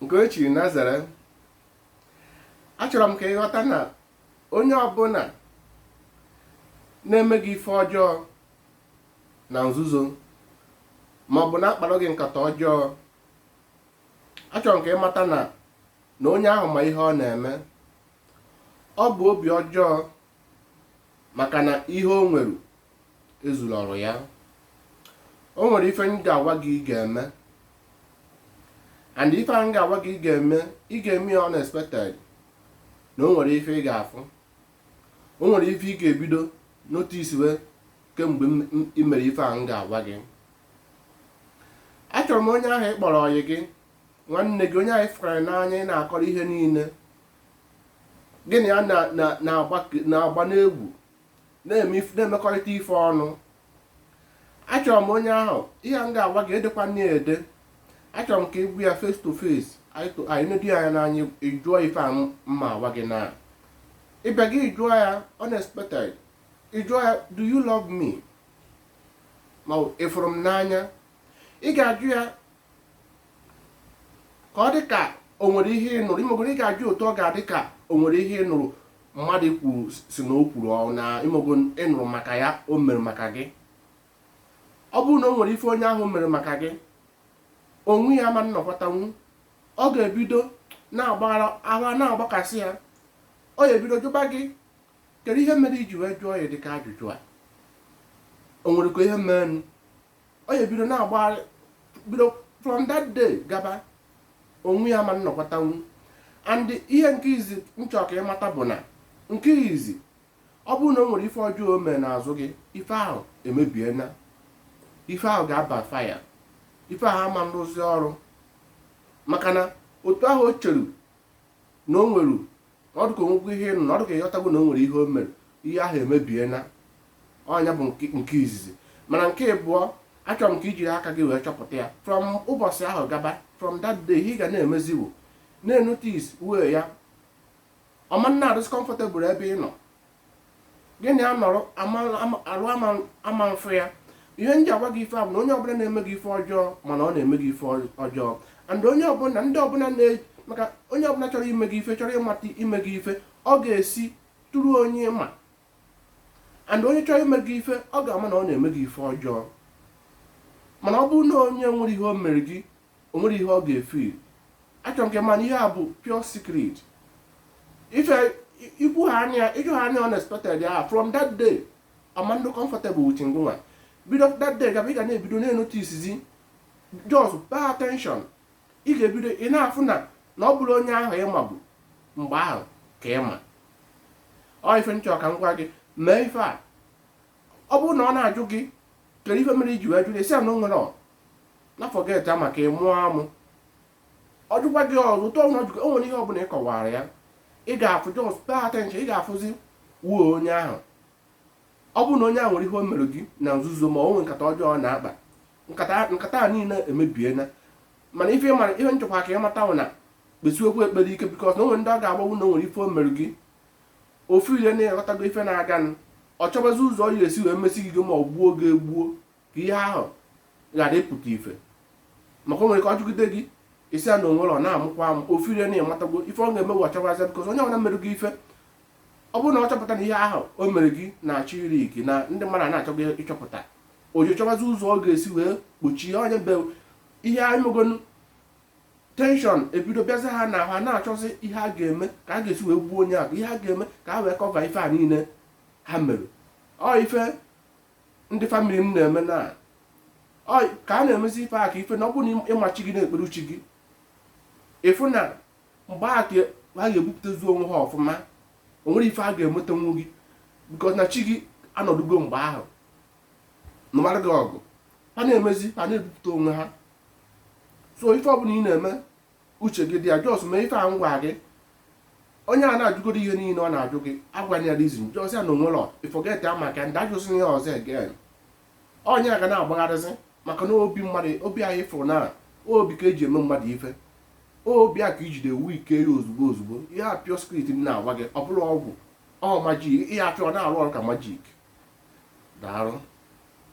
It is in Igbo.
nke o chiri nazere achọrọ m ka ị ghọta na onye ọbụla na-eme gị ife ọjọọ na nzuzo ma ọ bụ na-akpara gị nkata ọjọọ achọrọ m ka ị mata na na onye ahụ ma ihe ọ na-eme ọ bụ obi ọjọọ maka na ihe o nwere ezuroro ya o nwere ife m ga-agwa gị ị ga-eme and ife ahụ m ga-agwa gị ị ga-eme ị ga-eme ya unexpectedly na o nwere ife ị ga-afụ o nwere ife ị ga-ebido noticewe kemgbe ị mere ife ahụ m ga-agwa gị achọrọ m onye ahụ ị kpọrọ ọyị gị nwanne gị onye ahụ ị fụkara n'anya ị na-akọrọ ihe niile gị na ya na-agba n'egwu na-emekọrịta ife ọnụ achọrọ m onye ahụ ihe a m ga-agwa gị edekwana ya ede achọrọ m ka ị gwa ya face to face and ị nedo ya anya n'anya ị jụọ ife a m ma-agwa gị na ịbịa gị ị jụọ ya unexpected ị jụọ ya do you love me ma ị fụrụ m n'anya ị ga-ajụ ya ka ọ dị ka o nwere ihe ị nụrụ ị mago ị ga-ajụ otu ọ ga-adị ka o nwere ihe ị nụrụ mmadụ kwuru sị na o kwuru ọ na ị mago ị nụrụ maka ihe o mere maka gị ọ bụrụ na o nwere ife onye ahụ mere maka gị onwe ya ama nnọkọtanwu ọ ga-ebido na-agba ghara ghara na-agbakasị ya ọ ga-ebido jụba gị kedu ihe mere i ji wee jụọ ya dịka ajụjụ a o nwerekwa ihe menụ ọ ya-ebido na-agbagharị bido from that day gaba onwe ya ama nnọkọtanwu and ihe nke izizi m chọ ka ị mata bụ na nke izizi ọ bụrụ na o nwere ife ọjọọ o mere n'azụ gị ife ahụ emebiena ife ahụ ga-abackfire ife ahụ ama nrụzi ọrụ maka na otu ahụ o cheru na o nwere na ọ dịka o nwekwa ihe ị nụ na ọ dịka ị ghọtago na o nwere ihe o mere ihe ahụ emebiena ọ nya bụ nke izizi mana nke ịbụọ achọrọ m ka i jiri aka gị wee chọpụta ya from ụbọchị ahụ gaba from that day ị ga na-emeziwo na-enoticewe ya ọ ma na-adịzi comfortable ebe ị nọ gị na ya nọrọ arụ ama mfụ ya ihe m ji agwa gị ife a bụ na onye ọbụla na-eme gị ife ọjọọ ma na ọ na-eme gị ife ọjọọ and onye ọbụla ndị ọbụla na maka onye ọbụla chọrọ ime gị ife chọrọ ịmata ime gị ife ọ ga-esi through onye ma and onye chọrọ ime gị ife ọ ga-ama na ọ na-eme gị ife ọjọọ mana ọ bụrụ na onye nwere ihe o mere gị o nwere ihe ọ ga-efeel achọrọ nke mana ihe a bụ pure secret ife ikwu ha anya ị jụ ha nya unexpectedly from that day ọ ma-anọdụ comfortable with gị nwa bido that day gaba ị ga na-ebido na-enotisizi just pay attention ị ga-ebido ị na-afụ na na ọ bụrọ onye ahụ ị mabu mgbe ahụ ka ị ma ọ ife m chọ ka m gwa gị mee ife a ọ bụrụ na ọ na-ajụ gị kedu ife mere i ji wee jụọ ị sị ya na o nwerọ na forget ya maka ị mụọ amụ ọ jụkwa gị ọzọ ụtọ ọnwa jụkwa o nwere ihe ọbụla ị kọwara ya ị ga-afụ just pay attention ị ga-afụzi wuo onye ahụ ọ bụrụ na onye ahụ nwere ihe o mere gị na nzuzo ma o nwere nkata ọjọọ ọ na-akpa nkata nkata a niile emebiela mana ife mara ihe m chọkwa ka ị mata bụ na kpesiwekwu ekpere ike because na o nwere ndị ọ ga-abụ na o nwere ife o mere gị ọ feel na ị ghọtago ife na-aganụ ọ chọbazi ụzọ ọ ya-esi wee mesi gị ma ọ gbuo gị egbu ka ihe ahụ ghara ịpụta ife maka o nwere ka ọ jụgide gị ị sị ya na o nwerọ ị na-amụkwa amụ ọ feel na ị matago ife ọ ga-eme bụ ọ chọbazi because onye ọbụla mere gị ife ọ bụrụ na ọ chọpụta na ihe ahụ o mere gị na-achọ ịleak na ndị mmadụ na-achọzi ịchọpụta o ji chọbazi ụzọ ọ ga-esi wee kpuchie nya bụ ihe ị megonu tension ebido bịazi ha na ha na-achọzi ihe a ga-eme ka a ga-esi wee gbuo onye ahụ ihe a ga-eme ka ha wee cover ife a niile ha mere ọ ife ndị family m na-eme na ka a na-emezi ife a ka ife na ọ bụrụ na ị ma chi gị na-ekpere chi gị ị fụ na mgbe a ka ha ga-ebupụtazi onwe ha ọfụma o nwerọ ife ha ga-emetanwu gị because na chi gị anọdugo mgbe ahụ nụbara gị ọgụ ha na-emezi ha na-ebupụta onwe ha so ife ọbụla ị na-eme uche gị dị ya just mee ife a m gwa gị onye a na-ajụgoro ihe niile ọ na-ajụ gị agwana ya reason just sị ya na o nwerọ forget ya maka ndị ajụsị ihe ọzọ again onye a ga na-agbagharịzi maka na obi mmadụ obi anyị fụrụ na obi ka e ji eme mmadụ ife obi a ka i jide weaken ya ozugbo ozugbo ihe a pure secret m na-agwa gị ọ bụrọ ọgwụ ọ magic ihe a pure ọ na-arụ ọrụ ka magic daarụ